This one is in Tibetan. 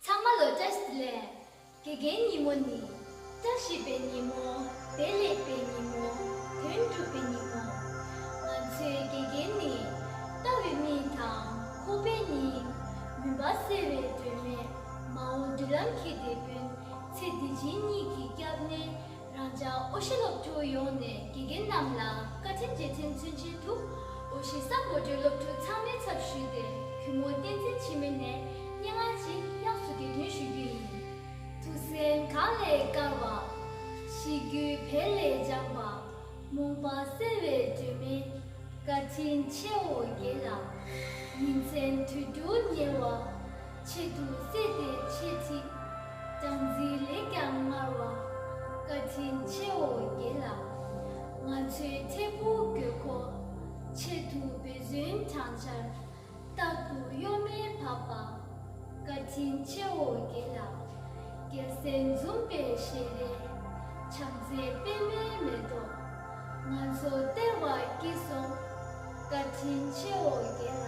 ཚང་མ་ལོ་བཅའ་ཞིག་ལས། དགེ་རྒན་ཉིན་མོ་ནི། བཅའ་བཞི་པའི་ཉིན་མོ། བདེ་ལེགས་པའི་ཉིན་མོ། དོན་འགྲུབ་པའི་ཉིན་མོ། ང་ཚོའི་དགེ་རྒན་ནི། ལྟ་བའི་མི་དང་ཁོ་པའི་སྙིང། མུན་པ་སེལ་བའི་སྒྲོན་མེ། མ་འོངས་མདུན་ལམ་གྱི་དེད་དཔོན། ཚེ་འདི་སྦྱིན་གཉིས་ཀྱི་སྐྱབས་གནས། རང་ཅག་ཨོ་ཤི་སློབ་ཕྲུག་ཡོངས་ནས་དགེ་རྒན་རྣམས་ལ་བཀའ་དྲིན་རྗེས་དྲན་མཚོན་ཆེན་དུ་ཨོ་ཤི་ས་མགོ་སྦྲེལ་སློབ་ཕྲུག་ཚང་མའི་ཚབ་ཞུས་ཏེ་གུས་མོ་བསྟན་འཛིན་འཆི་མེད་ནས་སྙན་ངག་ཅིག་དབྱངས་སུ་གྱེར་འདོན་ཞུ་རྒྱུ་ཡིན། ཐུགས་སེམས་གངས་ལས་དཀར་བ། གཤིས་རྒྱུད་བལ་ལས་ལྗང་བ། རྨོངས་པ་སེལ་བའི་སྒྲོན་མེ། བཀའ་དྲིན་ཆེའོ་རྒྱལ་ལགས། ཉིན་མཚན་དུས་དྲུག་ཉེ་བ། ཆེད་དུ་བསད་དེ་ཆེ་ཚིག། སྦྲང་རྩི་ལེགས་ཀྱང་མངར་བ། བཀའ་དྲིན་ཆེའོ་རྒྱལ་ལ། ང་ཚོའི་ཐེ་བུ་དགོས་མཁོ། ཆེད་དུ་བེ་ཟོན་བགྲང་བྱར། རྟག་ཏུ་གཡོ་མེད་བབས་པ། བཀའ་དྲིན་ཆེའོ་རྒྱལ་ལ། རྒྱལ་སྲས་འཛུམ་པའི་ཞལ་རས། ཕྱག་མཛེས་པད་མའི་མེ་ཏོག། ང་ཚོ་སྟེར་བར་བགྱིས་སོ། བཀའ་དྲིན་ཆེའོ་རྒྱལ་ལ།